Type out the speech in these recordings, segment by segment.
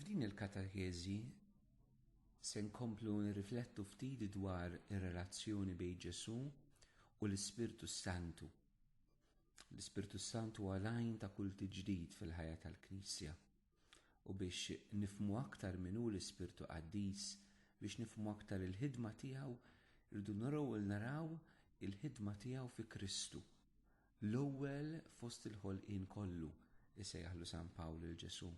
F'din il-katakezi se nkomplu nirriflettu ftit dwar ir-relazzjoni bejn Ġesù u l-Ispirtu Santu. L-Ispirtu Santu għalajn ta' kull tiġdid fil-ħajja tal-Knisja. U biex nifmu aktar min hu l-Ispirtu Qaddis, biex nifmu aktar il-ħidma tiegħu, rridu naraw il naraw il-ħidma tiegħu fi Kristu. L-ewwel fost il-ħolqien kollu, isejjaħlu San Pawl lil Ġesù.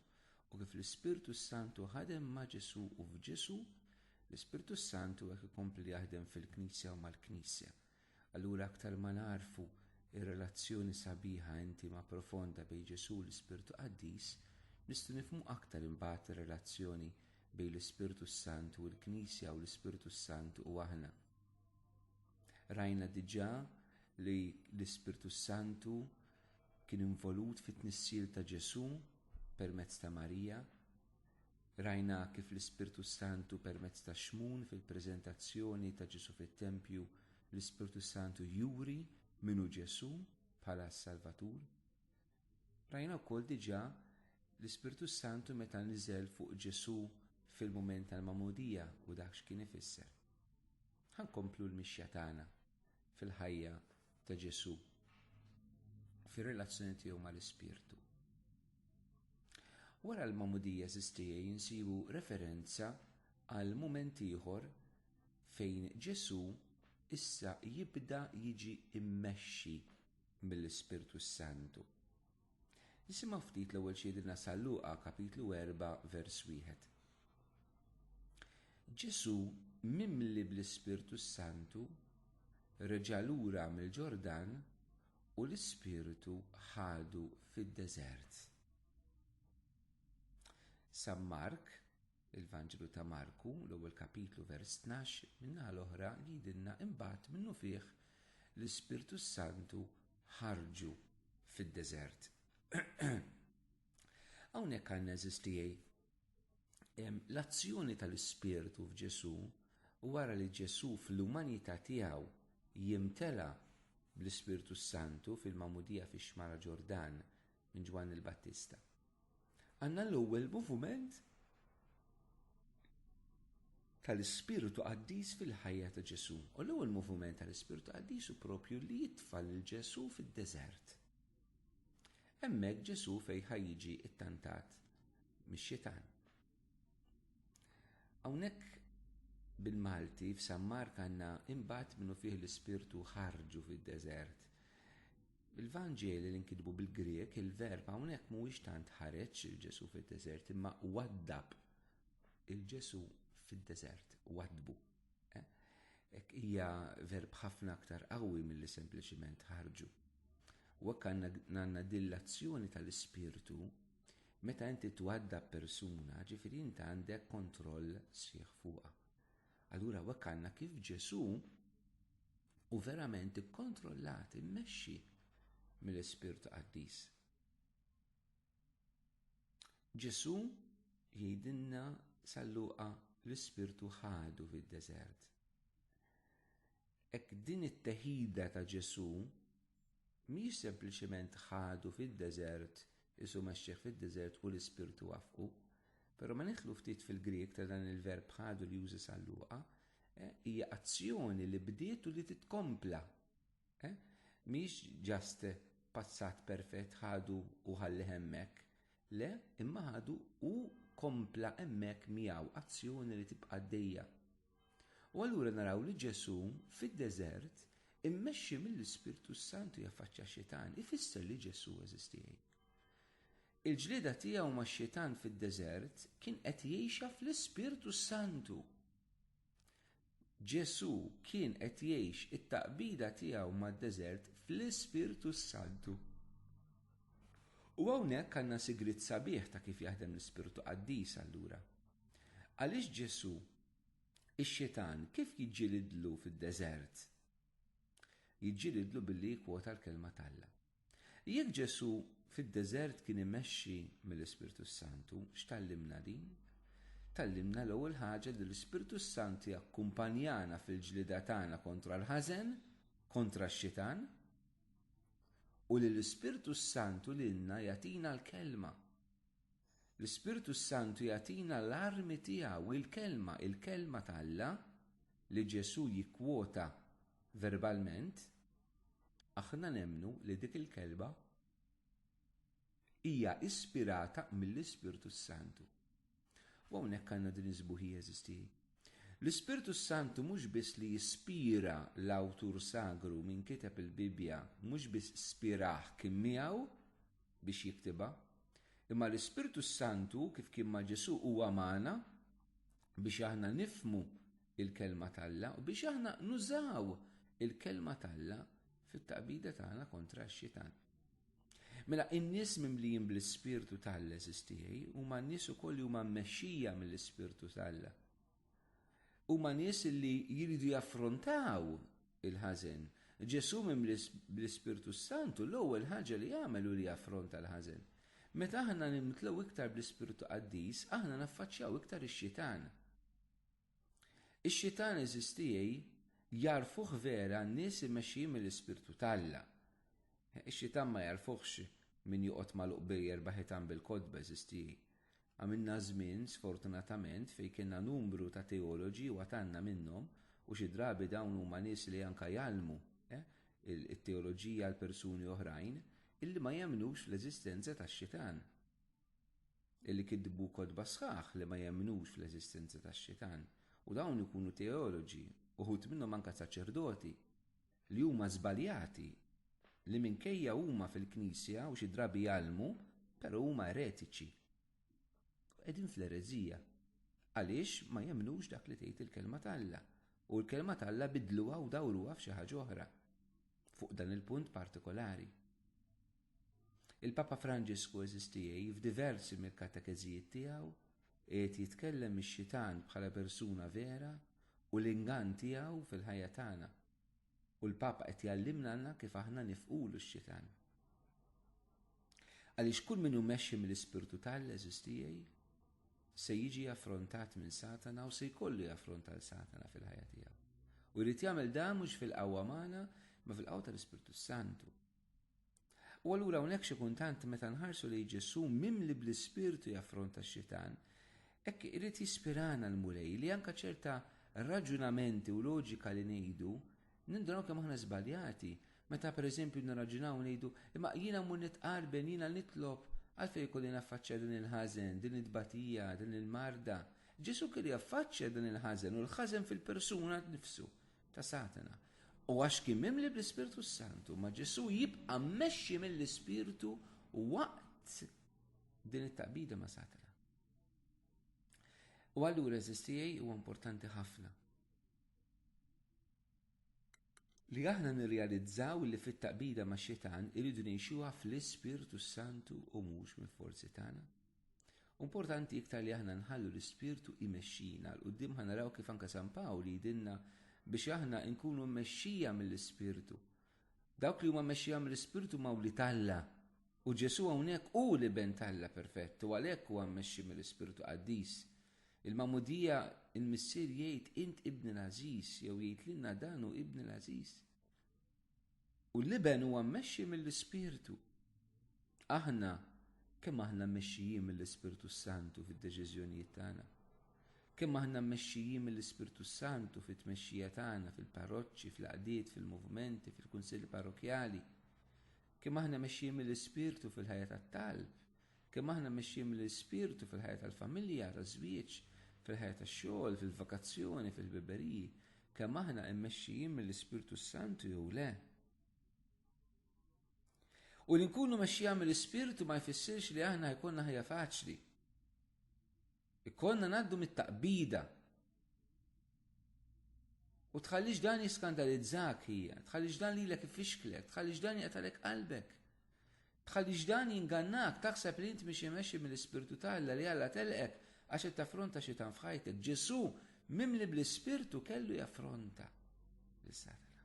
U kif l-Ispirtu s-Santu ħadem ma' Ġesù u f'Ġesù, l-Ispirtu s-Santu hekk ikompli jaħdem fil-Knisja u mal-Knisja. Allura aktar ma nagħrfu r-relazzjoni sabiħa intima profonda bejn Ġesù u l-Ispirtu Qaddis, nistgħu nifhmu aktar imbagħad ir-relazzjoni bejn l-Ispirtu s-Santu u l-Knisja u l-Ispirtu s-Santu u aħna. Rajna diġà li l-Ispirtu Santu kien involut fit-tnissil ta' Ġesù permezz ta' Marija. Rajna kif l-Ispirtu Santu permezz ta' xmun fil-preżentazzjoni ta' Ġesù fit-tempju l-Ispirtu Santu juri minu Ġesù bħala s-Salvatur. Rajna wkoll diġà l-Ispirtu s-Santu meta niżel fuq Ġesù fil-mument tal-Magħmudija u dak x'kien ifisser. Ħa nkomplu l-mixja tagħna fil-ħajja ta' Ġesù u fir-relazzjoni tiegħu mal-Ispirtu. Wara l-Magħmudija żistija jinsibu referenza għal mument ieħor fejn Ġesù issa jibda jiġi mmexxi mill-Ispirtu s-Santu. Nisimgħu ftit l-ewwel xi jgħidilna San Luqa kapitlu 4 vers 1. Ġesu mimli bl-Ispirtu s-Santu reġa' lura mill-Ġordan u l-Ispirtu ħadu fid-deżert. San Mark Il-Vanġelu ta' Marku, l-ewwel kapitlu vers tnax, min-naħa l-oħra jgħidilna imbagħad minnufih l-Ispirtu s-Santu ħarġu fid-deżert. Hawnhekk għandna eżiż tiegħi l-azzjoni tal-Ispirtu f'Ġesù wara li Ġesù fl-umanità tiegħu jimtela bl-Ispirtu Santu fil-Mamudija fix-Xmara Ġordan minn Ġwanni l-Battista. Għanna l-ewwel moviment tal-ispirtu qaddis fil-ħajja ta' Ġesu. U l-ewwel moviment tal-ispirtu qaddis u propju li jitfal lil Ġesu fid-deżert. Hemmhekk Ġesu fejn ħajjiġi ttantat mix-xitan. Hawnhekk bil-Malti f'San Mark għandna imbagħad minnu fih l-ispirtu ħarġu fid-deżert. Fil-Vanġeli li nkitbu bil-Grieg, il-verb hawnhekk mhuwiex tant ħareġ il-Ġesù fid-deżert imma waddab il-Ġesù fid-deżert, waddbu. Eh? Hekk hija verb ħafna aktar qawwi milli sempliċiment ħarġu. U hekk għandna dillazzjoni tal-ispirtu Meta inti twadda persuna, ġifiri inti għandek kontroll sħiħ fuqa. Allura wek għanna kif Ġesu u verament ikkontrollat, immexxi mill-Ispirtu Qaddis. Ġesù jgħidilna salluqa l-Ispirtu ħadu fid-deżert. Ek din it-teħida ta' Ġesù Mhijiex sempliċement ħadu fid-deżert, Isu mexxih fid-deżert u l-Ispirtu waffqu. Però ma nidħlu ftit fil-Grieg ta' dan il-verb ħadu li juża San Luqa, hija azzjoni li bdiet u li titkompla. Mhijiex ġast passat perfett ħadu u ħallih hemmhekk. Le, imma ħadu u kompla hemmhekk miegħu, azzjoni li tibqa' għaddejja. U allura naraw li Ġesù, fid-deżert, immexxi mill-Ispirtu s-Santu jaffaċċja x-Xitan, ifisser li Ġesù eżistiej. Il-ġlieda tiegħu max-Xitan fid-deżert kien qed jgħixha fl-Ispirtu s-Santu. Ġesù kien qed jgħix it-taqbida tiegħu mad-deżert fl-Ispirtu s-Santu. U hawnhekk għandna sigriet sabiħ ta' kif jaħdem l-Ispirtu Qaddis allura. Għaliex Ġesù Ix-Xitan kif jiġġilidlu fid-deżert? Jiġġilidlu billi jikkwota l-Kelma t'Alla. Jekk Ġesù fid-deżert kien imexxi mill-Ispirtu s-Santu, x'tgħallimna din? Tgħallimna l-ewwel ħaġa li l-Ispirtu s-Santu jakkumpanjana fil-ġlieda tagħna kontra l-ħażen, kontra x-Xitan, u li l-Ispirtu s-Santu lilna jagħtina l-Kelma. L-Ispirtu s-Santu jagħtina l-armi tiegħu, il-Kelma, il-Kelma ta' Alla, li Ġesù jikkwota verbalment, aħna nemmnu li dik il-Kelma hija ispirata mill-Ispirtu s-Santu. U hawnhekk għandna din is-sbuħija eżisti. L-Ispirtu s-Santu mhux biss li jispira l-awtur sagru minn kiteb il-Bibbja, mhux biss spirah kien miegħu, biex jiktibha, imma l-Ispirtu s-Santu kif kien ma' Ġesù huwa magħna biex aħna nifhmu il-kelma t'Alla u biex aħna nużaw il-kelma t'Alla fit-taqbida tagħna kontra x-xitan. Mela in-nies mimlijin bl-Ispirtu t'Alla eżistijaj huma n-nies ukoll li huma mmexxija mill-Ispirtu t'Alla. Huma nies li jridu jaffrontaw il-ħażen. Ġesù mimli bl-Ispirtu s-Santu l-ewwel ħaġa li għamel hu li affronta l-ħażen. Meta aħna nimtlew iktar bl-Ispirtu Qaddis, aħna naffaċċjaw iktar ix-Xitan. Ix-Xitan eżistijej jagħrfuh vera n-nies imexxijin mill-Ispirtu t'Alla. Ix-Xitan ma jagħrfuhx min joqgħod magħluq bejn erba' ħitan bil-kotba eżistijej. Għamilna żmien, sfortunatament, fejn kellna numru ta' teoloġi u għad għandna minnhom, u xi drabi dawn huma nies li anke jgħallmu t-teoloġija għal persuni oħrajn, illi ma jemmnux fl-eżistenza tax-Xitan. Illi kitbu kotba sħaħ li ma jemmnux fl-eżistenza tax-Xitan. U dawn ikunu teoloġi, uħud minnhom anke saċerdoti. li huma żbaljati, li minkejja huma fil-Knisja u xi drabi jgħallmu, però huma eretiċi. U qegħdin fl-ereżija, għaliex ma jemmnux dak li tgħid il-Kelma t'Alla, u l-Kelma t'Alla biddluha u dawruha f'xi ħaġa oħra, fuq dan il-punt partikolari. Il-Papa Franġisku għeżież tiegħi f'diversi mill-katekeżijiet tiegħu qiegħed jitkellem mix-xitan bħala persuna vera u l-ingann tiegħu fil-ħajja tagħna. U l-Papa qed jgħallimna lna kif aħna nifqulu x-xitan. Għaliex kull min hu mexxi mill-Ispirtu t'All għeżież tiegħi se jiġi affrontat minn Satana u se jkollu jaffronta l Satana fil-ħajja tiegħu. U jrid jagħmel dan mhux fil-qawwa magħna, ma fil-qawwa tal-Ispirtu Santu. U allura hawnhekk xi kuntant meta nħarsu li Ġesù mimli bl-ispirtu jaffronta x-xitan, hekk irid jispirana l-Mulej li anke ċerta raġunamenti u loġika li ngħidu nindraw kemm aħna żbaljati. Meta pereżempju nirraġunaw ngħidu imma jiena mmur nitqarben jiena nitlob għalfejn ikolli naffaċċja din il-ħażen, din it-tbatija, din il-marda. Ġesù kellu jaffaċċja dan il-ħażen u l-ħażen fil-persuna nifsu. ta' Satana. U għax kien mimli bl-Ispirtu Santu, ma Ġesu jibqa' mmexxi mill-Ispirtu waqt din it-taqbida ma' Satana. U allura eżistijaj huwa importanti ħafna. Li aħna nirrealizzaw li fit-taqbida ma' xitan irridu ngħixuha fl-Ispirtu Santu u mhux mill-forzi tagħna. Importanti iktar li aħna nħallu l-Ispirtu imexxina għal quddiem ħa naraw kif anke San Pawl jidinna biex aħna nkunu mmexxija mill-Ispirtu. Dawk li huma mmexxija mill-Ispirtu ma' wli talla. U Ġesu hawnhekk hu li ben talla perfett u għalhekk huwa mmexxi mill-Ispirtu Qaddis. Il-Mamudija il-Missier jgħid int ibni l-għażiż jew jgħid lilna dan hu ibni l-għażiż. U l-Iben huwa mmexxi mill-Ispirtu. Aħna kemm aħna mmexxijin mill-Ispirtu s-Santu fid-deċiżjonijiet tagħna? Kemm aħna mmexxijin mill-Ispirtu s-Santu fit-tmexxija tagħna fil-parroċċi, fl-għaqdiet, fil-movimenti, fil-kunsilli parrokkjali? Kemm aħna mexxijin mill-Ispirtu fil-ħajja tat-talb? Kemm aħna mexjin mill-Ispirtu fil-ħajja tal-familja, taż-żwieġ, fil-ħajja tax-xogħol, fil-vakazzjoni, fil-ħbiberiji? Kemm aħna mmexxijin mill-Ispirtu s-Santu jew le? U li nkunu mexxija mill-Ispirtu ma jfissirx li aħna jkollna ħajja faċli. Ikollna ngħaddu mit-taqbida. U tħallix dan jiskandalizzak hija, tħallix dan lilek ifixklek, tħallix dan jaqtalek qalbek. Tħallix dan jingannak taħseb li int mixi mexxi mill-Ispirtu ta' Alla li Alla telqek għax qed taffronta xi tan f'ħajtek. Ġesù mimli bl-Ispirtu kellu jaffronta lis-Satana.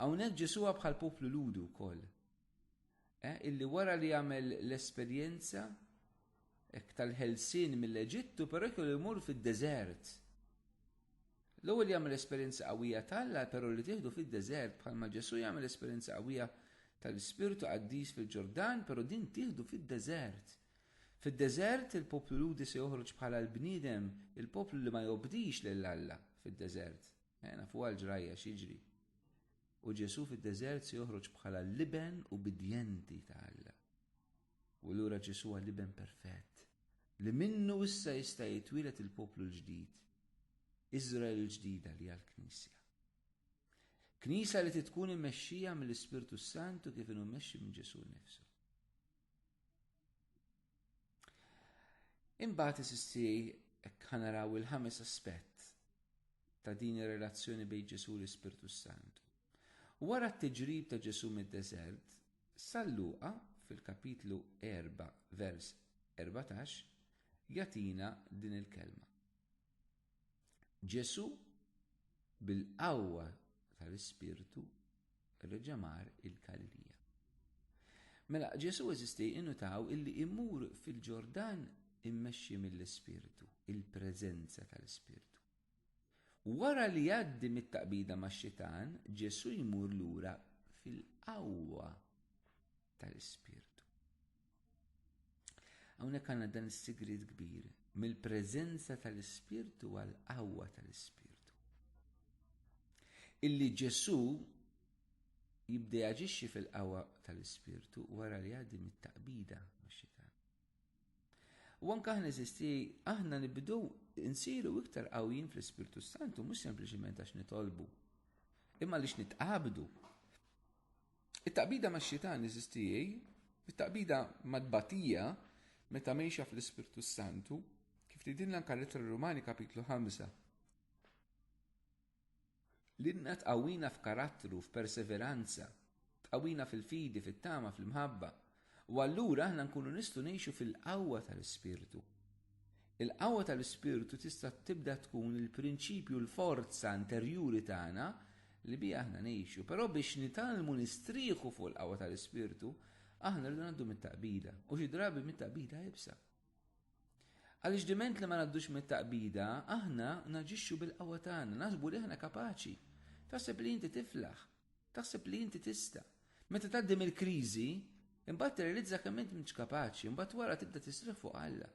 Hawnhekk Ġesù bħal poplu Ludu wkoll. eh, illi wara li jagħmel l-esperjenza hekk tal-ħelsien mill-Eġittu, però jkollu jmur fid-deżert. L-ewwel jagħmel esperjenza qawwija tal-la, però li tieħdu fid-deżert bħalma Ġesù jagħmel esperjenza qawwija tal-Ispirtu qaddis fil-Ġordan, però din tieħdu fid-deżert. Fid-deżert il-poplu Ludi se joħroġ bħala l-bniedem, il-poplu li ma jobdix lil Alla fid-deżert. Ejna eh, fuq għal ġrajja xiġri. U Ġesù fid-deżert se joħroġ bħala l-Iben ubbidjenti ta' Alla. U allura Ġesù huwa l-Iben perfett, li minnu issa jista' jitwieled il-poplu l-ġdid, Iżrael il-ġdida li hija l-Knisja. Knisja li titkun immexxija mill-Ispirtu s-Santu kif inhu mmexxi minn Ġesù nnifsu. Imbagħad isisti kanaraw il-ħames aspett ta' din ir-relazzjoni bejn Ġesu l-Ispirtu Sant. Wara t-tiġrib ta' Ġesu mid-deżert, sal-luqa fil-kapitlu 4 vers 14 jatina din il-kelma. Ġesu bil-qawwa tal-Ispirtu reġamar il-Galilija. Mela Ġesu eżisti innutaw illi imur fil-Ġordan immexxi mill-Ispirtu, il-preżenza tal-Ispirtu. Wara li jgħaddi mit-taqbida ma' xitan, Ġesu jmur lura fil-qawwa tal-Ispirtu. Hawnhekk għandna dan is-sigriet kbir mill-preżenza tal-Ispirtu għal qawwa tal-Ispirtu. Illi Ġesù jibda jaġixxi fil-qawwa tal-Ispirtu wara li għaddi mit-taqbida max-xitan. U anke aħna eżisti aħna nibdu insiru iktar qawwin fl-Ispirtu Santu mhux sempliċement għax nitolbu, imma għaliex nitqabdu. It-taqbida max-xitan, eżiż tiegħi, it-taqbida mat-tbatija meta mgħejxa fl-Ispirtu s-Santu, kif tgħidilna anke l-Ittra Rumani kapitlu 5. L-inna tqawwina f'karattru, f'perseveranza, tqawwina fil-fidi, fit-tama, fl-imħabba, U allura aħna nkunu nistgħu ngħixu fil-qawwa tal-Ispirtu. Il-qawwa tal-Ispirtu tista' tibda tkun il-prinċipju l-forza interjuri tagħna li biha aħna ngħixu, però biex nitalmu nistrieħu fuq il-qawwa tal-Ispirtu, aħna rridu ngħaddu mit-taqbida, u xi drabi mit-taqbida ibsa. Għaliex diment li ma ngħaddux mit-taqbida, aħna naġixxu bil-qawwa tagħna, naħsbu li aħna kapaċi. Taħseb li inti tiflaħ, Taħseb li inti tista'. Meta tgħaddi mill-kriżi, imbagħad tirrealizza kemm int m'intx kapaċi, imbagħad wara tibda tisriħ fuq Alla.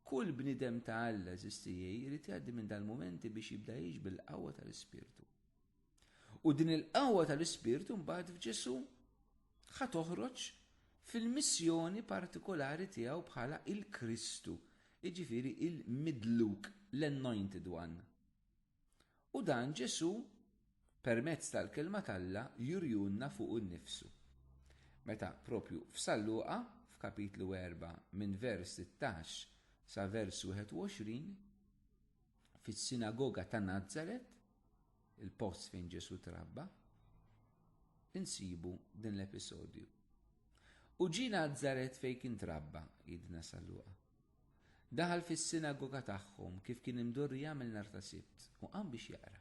Kull bniedem ta' Alla, eżiż tiegħi, irid jgħaddi minn dal-mumenti biex jibda jgħix bil-qawwa tal-Ispirtu. U din il-qawwa tal-Ispirtu mbagħad f'Ġesù ħa toħroġ fil-missjoni partikolari tiegħu bħala il-Kristu, jiġifieri il-midluk, l-anointed one. U dan Ġesù permezz tal-Kelma t'Alla jurjunna fuqu nnifsu. Meta propju f'San Luqa, f'kapitlu 4 minn vers 16 sa vers 21, fis-sinagoga ta' Nazaret, il-post fejn Ġesù trabba, insibu din l-episodju. U ġie Nazaret fejn kien trabba, jidna San Luqa. Daħal fis-sinagoga tagħhom kif kien imdorru jagħmel nhar ta' Sibt u qam biex jaqra.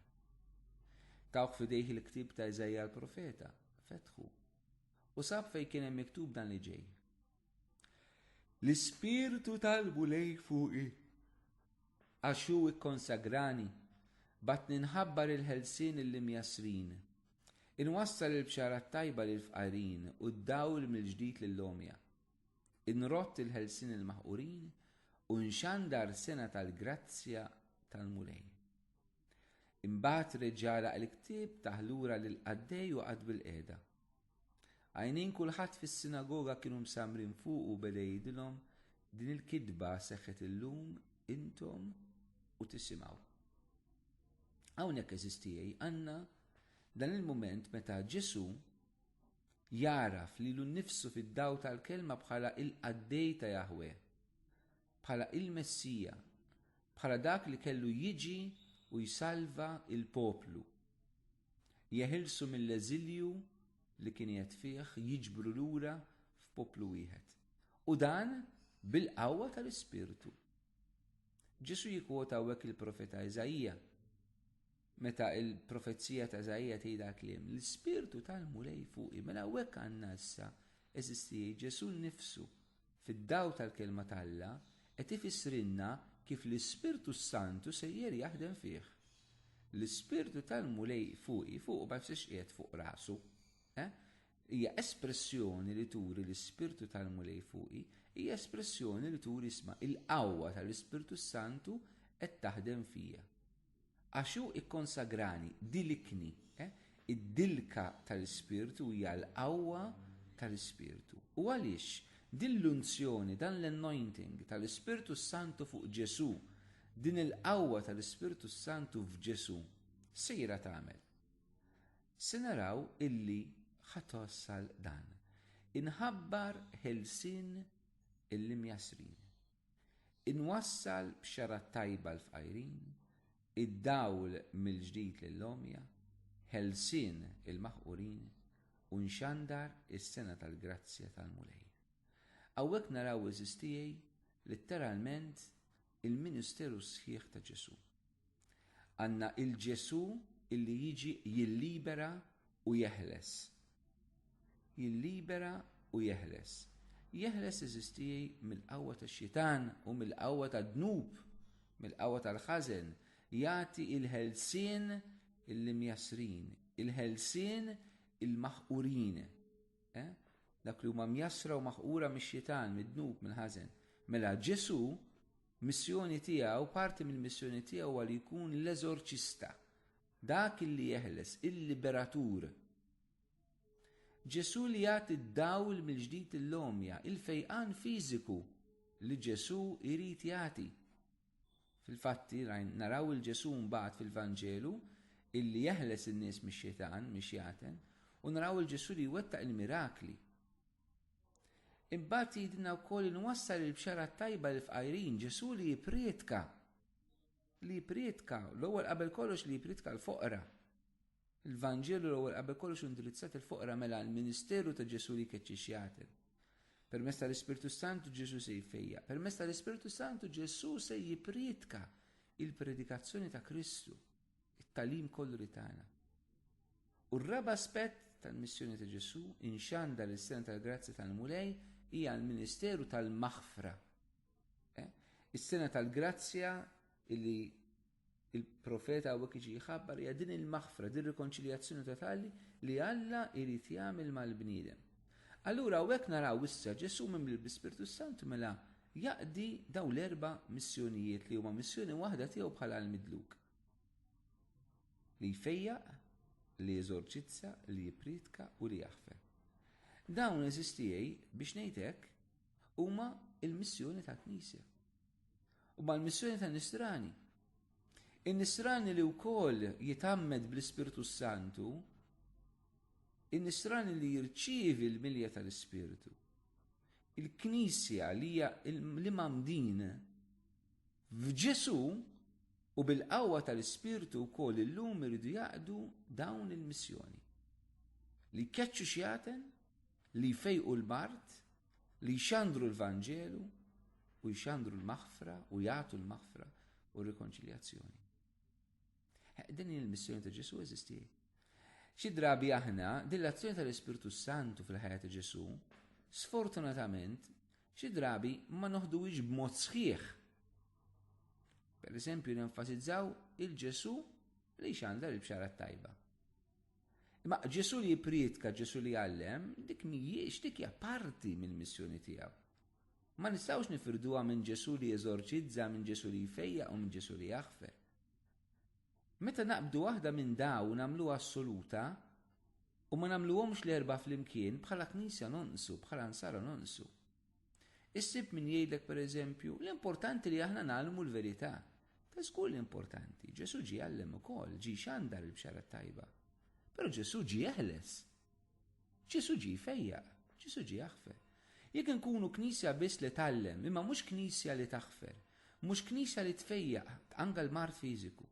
Tawh f'idejh il-ktieb ta' Iżajja l-profeta, fetħu, u sab fejn kien hemm miktub dan li ġej. L-ispirtu talbu lej fuqi għax hu ikkonsagrani bat ninħabbar il-ħelsien il-imjasrin. Inwassal il-bxara tajba lil fqarin u d-dawl mill-ġdid lill-omja. Inrott il-ħelsien il-maħqurin u nxandar sena tal-grazzja tal-Mulej. Imbagħad reġġala il-ktieb taħlura lil qaddej u qatt bil-qiegħda. Għajnejn kulħadd fis-sinagoga kienu msamrin fuq u beda jgħidilhom din il-kitba seħħet illum intom u tisimgħu. Hawnhekk eżistijej għandna dan il-mument meta Ġesu Jagħraf lilu nnifsu fid-dawl tal-Kelma bħala il-qaddej ta' Jaħweh, bħala il-Messija, bħala dak li kellu jiġi u jsalva l-poplu, jeħilsu mill-eżilju li kien qiegħed fih, jiġbru lura f'poplu wieħed. U dan bil-qawwa tal-Ispirtu. Ġesù jikkwota hawnhekk il-profeta Iżaija. Meta l-profezija ta' Iżaija tgħidha kliem, l-Ispirtu tal-Mulej fuqi, mela hawnhekk għandna issa, eżisti, Ġesù nnifsu, fid-dawl tal-Kelma t'Alla, qed ifissrilna kif l-Ispirtu s-Santu sejjer jaħdem fih. L-Ispirtu tal-Mulej fuqi, fuqu ma jfissirx qiegħed fuq rasu. Eh? hija espressjoni li turi l-Ispirtu tal-Mulej fuqi, hija espressjoni li turi isma' il-qawwa tal-Ispirtu Santu qed taħdem fija. Għax hu kkonsagrani, dilikni. Id-dilka tal-Ispirtu hija l-qawwa tal-Ispirtu. U għaliex? Din l-unzjoni, dan l-anointing tal-Ispirtu s-Santu fuq Ġesù, din il-qawwa tal-Ispirtu s-Santu f'Ġesù, x'sejra tagħmel? Se naraw illi ħa twassal dan. Inħabbar ħelsien il-imjassrin. Inwassal b'xarha t-tajba l-fqajrin, id-dawl mill-ġdid lill-għomja, ħelsien il-maħqurin u nxandar is-sengħa tal-grazzja tal-Mulej. Hawnhekk naraw għeżież tiegħi litteralment il-ministeru sħiħ ta' Ġesù. Għandna il-Ġesù illi jiġi jillibera u jeħles. Jillibera u jeħles. Jeħles eżistijaj mill-qawwa tax-xitan u mill-qawwa tad-dnub, mill-qawwa tal-ħażen, jagħti il-ħelsien il-imjassrin, il-ħelsien il-maħqurin. Eh? Dak li huma mjassra u maħqura mix-xitan, mid-dnub, mill-ħażen. Mela Ġesù Missjoni tiegħu, parti mill-missjoni tiegħu huwa li jkun l-eżorċista, dak li jeħles, il-liberatur. Ġesù li jagħti d-dawl mill-ġdid il-lomja, il-fejqan fiżiku li Ġesù jrid jagħti. Fil-fatti naraw il-Ġesù mbagħad fil-Vanġelu illi jeħles in-nies mix-xitan, mix-xjaten, u naraw il-Ġesù li jwettaq il-mirakli. Imbagħad jgħidilna wkoll li nwassal il-bxara t-tajba lill-fqajrin, Ġesù li jipprietka, li jipprietka, l-ewwel qabel kollox li jipprietka l-foqra. Il-Vanġelu l-ewwel qabel kollox indirizzat il-foqra mela l-ministeru ta' Ġesù li jkeċċi xjatel. Permezz tal-Ispirtu Santu Ġesù se jfejja. Permezz tal-Ispirtu Santu Ġesù se jipprietka il-predikazzjoni ta' Kristu. It-tagħlim kollu li tana. U r-raba' aspett tal-missjoni ta' Ġesù inxanda li s-sena tal-grazzja tal-Mulej hija l-ministeru tal-maħfra. Eh? Is-sena tal-grazzja illi il-profeta għawek iġi jħabbar hija din il-maħfra, din rikonċiljazzjoni totali li Alla jrid jagħmel mal-bniedem. Allura għawek naraw issa Ġesù mimli l-Spirtu Santu mela Jaqdi dawn l-erba' missjonijiet li huma missjoni waħda tiegħu bħala l-Midluk. Li jfejjaq, li jeżorċizza, li jippriedka u li jaħfer. Dawn għeżież tiegħi biex ngħid hekk huma l-missjoni tal-Knisja. U mal-missjoni tan-Nisrani. In-Nisrani li wkoll jitammed bl-Ispirtu Santu, in-Nisrani li jirċievi l-milja tal-Ispirtu. Il-Knisja li hija l-imgħammdin f'Ġesù u bil-qawwa tal-Ispirtu wkoll illum iridu jaqdu dawn il-missjoni, li jkeċċu xjaten, li jfejqu l-mard, li jxandru l-Vanġelu u jxandru l-maħfra u jagħtu l-maħfra u r-rikonċiljazzjoni. Din hi l-missjoni ta' Ġesù eżisti. Xi drabi aħna din l-azzjoni tal-Ispirtu Santu fil-ħajja ta' Ġesù, sfortunatament, xi drabi ma noħduwix b'mod sħiħ. Per eżempju, nenfasizzaw il-Ġesù li xandar il-bxara tajba. Imma Ġesù li jiprietka, Ġesù li għallem, dik mhijiex dik hija parti mill-missjoni tiegħu. Ma nistgħux nifirduha minn Ġesù li jeżorċizza, minn Ġesù li jfejja u minn Ġesù li jaħfer. Meta naqbdu waħda minn dawn nagħmluha assoluta u ma nagħmluhomx l-erbgħa flimkien, bħala Knisja nonqsu, bħala Nsara nonqsu. Issib min jgħidlek pereżempju, l-importanti li aħna ngħallmu l-verità. Ta' żgur li importanti, Ġesù ġie jgħallem ukoll, ġie jxandar il-Bxara t-Tajba. Però Ġesù ġie jeħles. Ġesù ġie jfejjaq, Ġesù ġie jaħfer. Jekk inkunu Knisja biss li tgħallem, imma mhux Knisja li taħfer, mhux Knisja li tfejjaq anke l-mard fiżiku,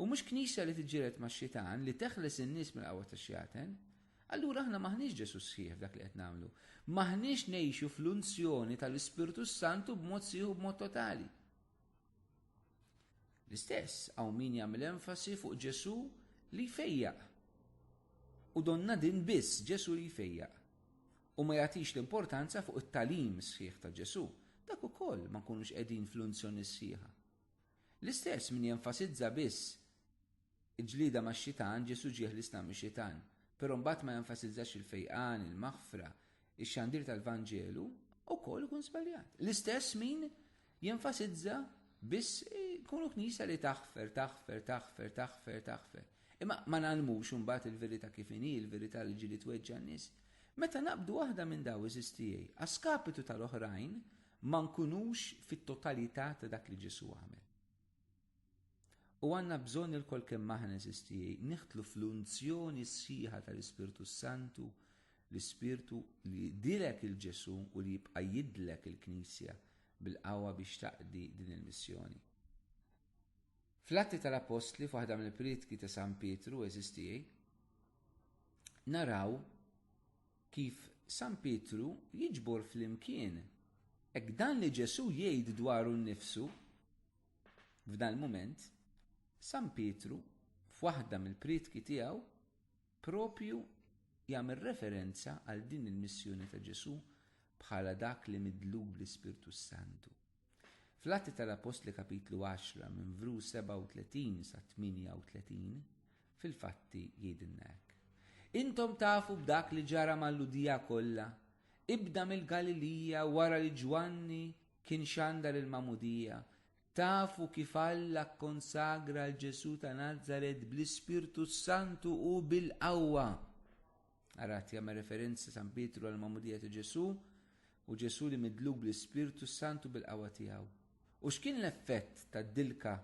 u mhux Knisja li tiġġieled max-Xitan, li teħles in-nies mill-qawwa tax-xjaten, allura aħna m'aħniex Ġesù sħiħ f'dak li qed nagħmlu. M'aħniex ngħixu fl-unzjoni tal-Ispirtu s-Santu b'mod sħiħ u b'mod totali. L-istess hawn min jagħmel enfasi fuq Ġesù li jfejjaq. U donna din biss Ġesù li jfejjaq. U ma jagħtix l-importanza fuq it-talim sħiħ ta' Ġesù, dak ukoll ma nkunux qegħdin fl-unzjoni sħiħa. L-istess min jenfasizza biss il-ġlida max-xitan Ġesù ġieħ l-islam mix-xitan, però mbagħad ma jenfasizzax il-fejqan, il-maħfra, Ix-xandir tal-Vanġelu wkoll ikun żbaljat. L-istess min jenfasizza biss kunu knisja li taħfer, taħfer, taħfer, taħfer, taħfer. Imma ma nagħlmux imbagħad il-verità kif inhi, il-verità li ġieli tweġġa' n-nies. Meta naqbdu waħda minn daw iżis tiegħi, għaskapitu tal-oħrajn ma nkunux fit-totalità ta' dak li Ġesù għamel. U għanna bżonn il-kol kemm aħna eżistijaj, niħtlu fl-unzjoni sħiħa tal-Ispirtu Santu, l-Ispirtu li dilek il-Ġesu u li jibqa' jidlek il-Knisja bil-qawwa biex taqdi din il-missjoni. Fl-Atti tal-Appostli, f'waħda mill-prietki ta' San Pietru eżistijaj, naraw Kif San Pietru jiġbor flimkien hekk dan li Ġesù jgħid dwaru nnifsu? F'dal-mument, San Pietru, f'waħda mill-prietki tiegħu, proprju jagħmel referenza għal din il-missjoni ta' Ġesù bħala dak li midlu bl-Ispirtu s-Santu. Fl-Atti tal-Appostli Kapitlu 10 minn vru 37 sa 38, fil-fatti jgħidilna hekk. Intom tafu b'dak li ġara mal-Ludija kollha, ibda mill-Galilija wara li Ġwanni kien xandar il-Magħmudija, tafu kif Alla kkonsagra l-Ġesu ta' Nazaret bl-Ispirtu s-Santu u bil-qawwa. Arat jagħmel referenza San Pietru għal magħmudija ta' Ġesù u Ġesù li midluk bl-Ispirtu s-Santu bil-qawwa tiegħu. U x'kien l-effett tad-dilka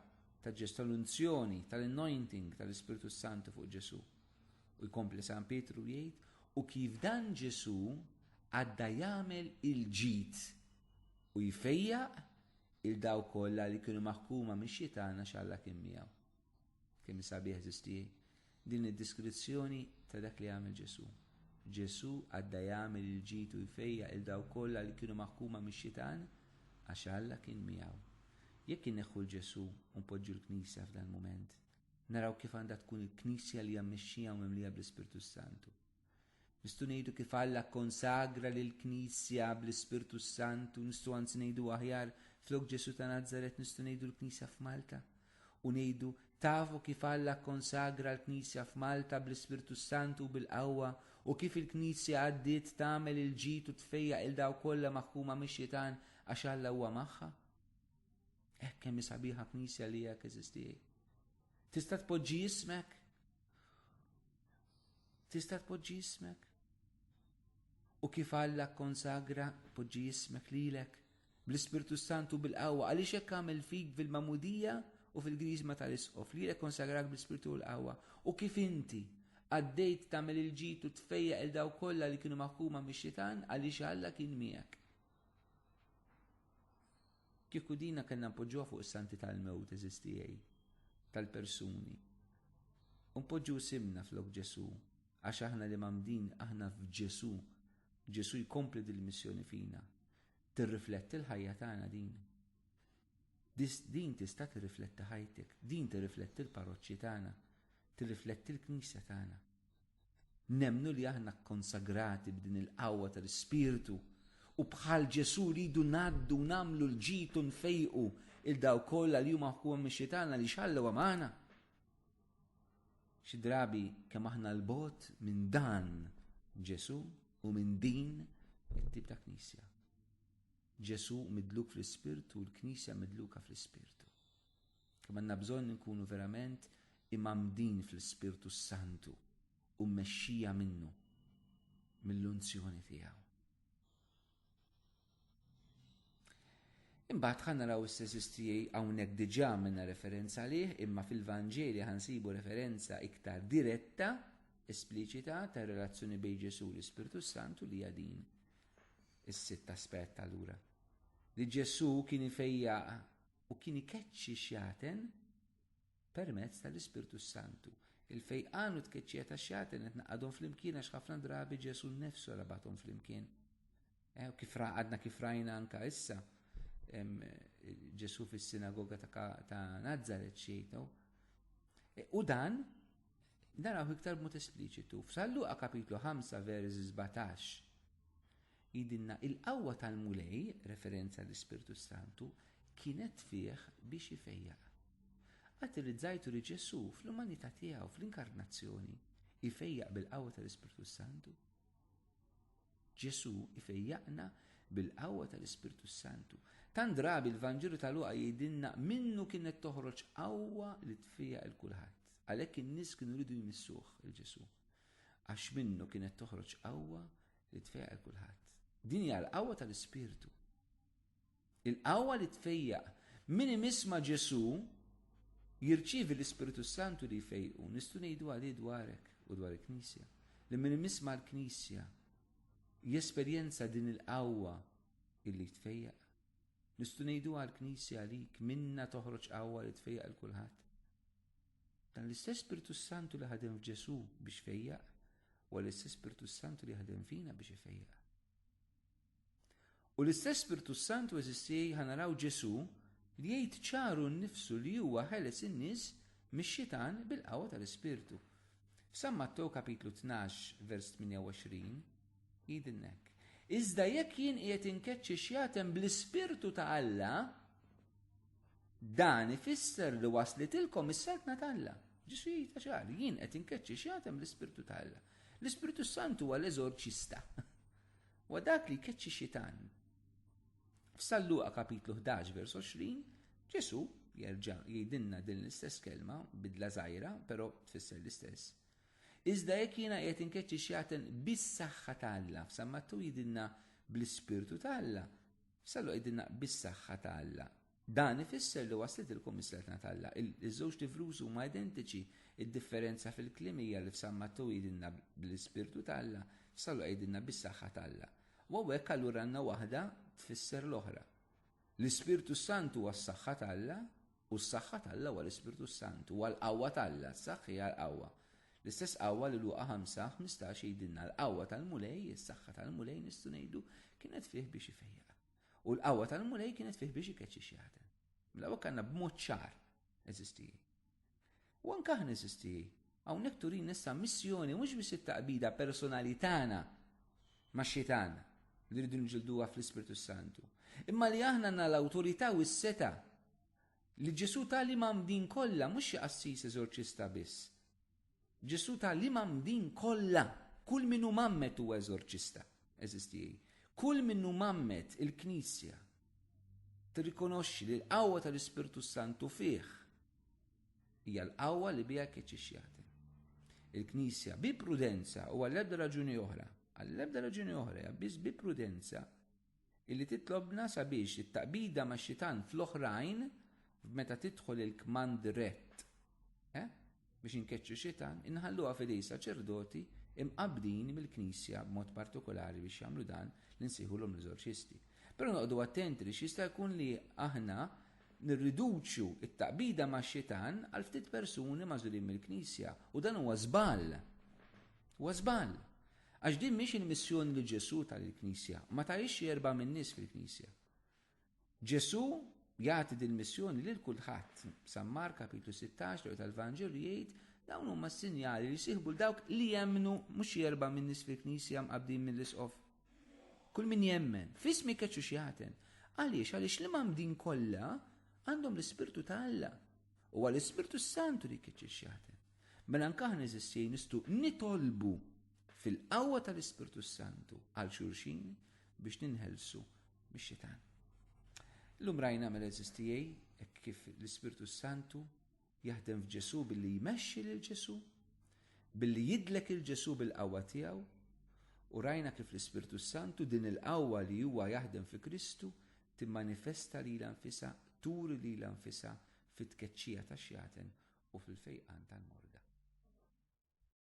ta' Ġesù tal-unzjoni, tal-anointing tal-Ispirtu s-Santu fuq Ġesù? U jkompli San Pietru jgħid, u kif dan Ġesù għadda jagħmel il-ġid u jfejjaq il daw kollha li kienu maħkuma mix-xitana x'Alla kien miegħu. Kemm sabiħ żisti din id-diskrizzjoni ta' dak li għamel Ġesù. Ġesù għadda jagħmel il-ġid u jfejjaq il dawk kollha li kienu maħkuma mix-xitan għax Alla kien miegħu. Jekk inneħħu l Ġesù u npoġġu l-Knisja f'dal-mument, naraw kif għandha tkun il-Knisja li hija mmexxija u mimlija bl-Ispirtu s-Santu. Nistgħu ngħidu kif Alla kkonsagra lill-Knisja bl-Ispirtu s-Sant u nistgħu anzi ngħidu aħjar flok Ġesù ta' Nazaret nistgħu ngħidu l-Knisja f'Malta. U ngħidu tafu kif Alla kkonsagra l-Knisja f'Malta bl-Ispirtu s-Sant u bil-qawwa u kif il-Knisja għaddiet tagħmel il-ġid u tfejjaq il daw kollha maħkuma mix-xitan għax Alla huwa magħha. Hekk kemm sabiħa Knisja li hekk eżistiej. Tista' tpoġġi jismek Tista' tpoġġi jismek? U kif Alla konsagra poġġi jismek lilek bl-Ispirtu Santu bil-qawwa għaliex hekk għamel fik fil-mamudija u fil-grisma tal-isqof li lek konsagrak bl-Ispirtu u l-qawwa u kif inti għaddejt tagħmel il-ġid u tfejja il daw kollha li kienu maħkuma mix-xitan għaliex Alla kien miegħek. Kieku dina kellna npoġġuha fuq is-santi tal-mewt, għeżież tiegħi, tal-persuni. U npoġġu isimna flok Ġesù, għax aħna li mgħammdin aħna f'Ġesù, Ġesù jkompli dil-missjoni fina. Tirrifletti l-ħajja tagħna din. Din tista' tirrifletti ħajtek, din tirrifletti l-parroċċi tagħna, tirrifletti l-Knisja tagħna. Nemmnu li aħna kkonsagrati b'din il-qawwa tal-Ispirtu u bħal Ġesu rridu ngħaddu nagħmlu l-ġid u nfejqu il daw kollha li huma ħkuhom mix-xitana li xallew magħna. Xi drabi kemm aħna l-bot minn dan Ġesu u minn din it-tip ta' knisja. Ġesu midluk fl-ispirtu u l-knisja midluka fl-ispirtu. Kemm għandna bżonn inkunu verament imgħammdin fl-Ispirtu s-Santu u mmexxija minnu, mill-unzjoni tiegħu. Imbagħad ħa naraw issa tiegħi hawnhekk diġà minna referenza lih imma fil-Vanġeli ħansibu referenza iktar diretta, espliċita ta' relazzjoni bejn Ġesu u l-Ispirtu Santu li hija din. Is-sitt aspett allura. Li Ġesu kien ifejja u kien ikeċċi xjaten permezz tal-Ispirtu s-Santu. Il-fejqan u tkeċċija ta' xjaten qed naqadhom flimkien għax ħafna drabi Ġesu nnefsu rabathom flimkien. Eh, kif għadna kif rajna anka issa Ġesu fis-sinagoga ta' Nazaret xejtu. Eh, u dan naraw iktar b'mod espliċitu. F'Salluqa kapitlu 5 vers 17 Jgħidilna, Il-qawwa tal-Mulej, referenza l-Ispirtu s-Santu, kienet fih biex ifejjaq. Qatt irrizzajtu li Ġesù, fl-umanità tiegħu, fl-Inkarnazzjoni, ifejjaq bil-qawwa tal-Ispirtu s-Santu? Ġesù ifejjaqna bil-qawwa tal-Ispirtu s-Santu. Tant drabi l-Vanġelu ta' Luqa jgħidilna minnu kienet toħroġ qawwa li tfejjaq 'il kulħadd. Għalhekk in-nies kienu jridu jmissuh, il-Ġesù, għax minnu kienet toħroġ qawwa li tfejjaq il kulħadd. Din hija l-qawwa tal-Ispirtu. Il-qawwa li tfejjaq min imisma Ġesu jirċievi l-Ispirtu Santu li jfejqu, nistgħu ngħidu għalih dwarek u dwar il-Knisja. Li min imisma l-Knisja jesperjenza din il-qawwa illi tfejjaq. Nistgħu ngħidu għall-Knisja għalik minna toħroġ qawwa li tfejjaq il kulħadd. Dan l-istess Spirtu s-Santu li ħadem f'Ġesù biex fejjaq, huwa l-istess Spirtu s-Santu li ħadem fina biex ifejjaq. U l-istess Spirtu s-Santu eżisti ħanaraw Ġesù li jgħid ċaru nnifsu li huwa ħeles in-nies mix-xitan bil-qawwa tal-Ispirtu. F'San Mattew kapitlu 12 vers 28 jgħidilna hekk. Iżda jekk jien qiegħed inkeċċi xjatem bl-Ispirtu ta' Alla, Dan ifisser li waslitilkom is-saltna t'Alla. Ġesu jgħidha ċar, jien qed inkeċċi x'jagħtem l-Ispirtu ta' Alla. L-Ispirtu Santu huwa l-eżorċista. Wa dak li jkeċċi xitan. F'San Luqa kapitlu 11 vers 20, Ġesu jerġa' jgħidilna din l-istess kelma, bidla żgħira, però tfisser l-istess. Iżda jekk jiena qed inkeċċi x'jagħtem bis-saħħa ta' Alla, f'San Mattu jgħidilna bl-Ispirtu ta' Alla, F'Sallu qegħdilna bis-saħħa ta' Alla. Dan ifisser li waslet il-Kummissjatna ta' Alla. Iż-żewġ tivrużi huma identiċi, id-differenza fil-kliem hija li f'San Mattew jgħidilna bl-Ispirtu ta' Alla, f'Sallu jgħidilna bis-saħħa ta' Alla. U hawnhekk allura għandna waħda tfisser l-oħra. L-Ispirtu s-Santu huwa s-saħħa ta' Alla, U s-saħħa t'Alla huwa l-Ispirtu s-Santu, huwa l-qawwa t'Alla, s-saħħ hija l-qawwa. L-istess qawwa li Luqa 5, 15 jgħidilna, l-qawwa tal-Mulej, is-saħħa tal-Mulej nistgħu ngħidu, kienet fih biex ifejjaq. U l-qawwa tal-Mulej kienet fih biex ikeċċi xjaħdem. Mela hawnhekk għandna b'mod ċar, eżisti. U anke aħna, eżiż tiegħi, hawnhekk turina issa missjoni mhux biss it-taqbida personali tagħna max-Xitan li rridu niġġilduha fl-Ispirtu s-Santu, imma li aħna għandna l-awtorità u s-seta' li Ġesù ta' li mamdin kollha mhux xi qassis eżorċista biss. Ġesù ta' li mamdin kollha, kull min hu mammet huwa eżorċista, eżiż tiegħi. Kull min hu mammet il-Knisja tirrikonoxxi li l-qawwa tal-Ispirtu s-Santu fih Hija l-qawwa li biha keċċix jagħti. Il-Knisja bi prudenza u għall-ebda raġuni oħra, għall-ebda raġuni oħra hija biss bi prudenza illi titlobna sabiex it-taqbida ma' xitan fl-oħrajn meta tidħol il-kmand rett. Eh? biex inkeċċu xitan, inħalluha fidej saċerdoti imqabdin mill-Knisja b'mod partikolari biex jagħmlu dan li nsejħulhom l-eżorċisti. Però noqogħdu attenti li x'jista' jkun li aħna nirriduċu t-taqbida max-xitan għal ftit persuni magħżulin mill-Knisja, u dan huwa żball. Huwa żball. Għax din mhix il-missjoni li Ġesù ta lill-Knisja, ma tahiex xi erba' min-nies fil-Knisja. Ġesù jagħti din missjoni lil kulħadd. San Mark kapitlu 16 li tal-Vanġelu jgħid dawn huma s-sinjali li jsieħbu l dawk li jemmnu mhux xi erba' min-nies fil-Knisja mqabbdin mill-isqof Kull min jemmen, f'ismi keċu x'jagħten. Għaliex? Għaliex l-imgħammdin kollha għandhom l-Ispirtu ta' Alla. Huwa l-Ispirtu s-Santu li jkeċċi x'jagħten. Mela anke aħna eżistjej nistu nitolbu fil-qawwa tal-Ispirtu s-Santu għal xulxin biex ninħelsu mix-xitan. L-lum rajna mela eżistijej kif l-Ispirtu s-Santu Jaħdem f'Ġesù billi jmexxi lil Ġesù, billi jidlek 'il Ġesù bil-qawwa tiegħu, u rajna kif l-Ispirtu s-Santu, din il-qawwa li huwa jaħdem fi Kristu, timmanifesta lilha nfisha, turi lilha nfisha fit-tkeċċija tax-xjaten u fil-fejqan tal-morda.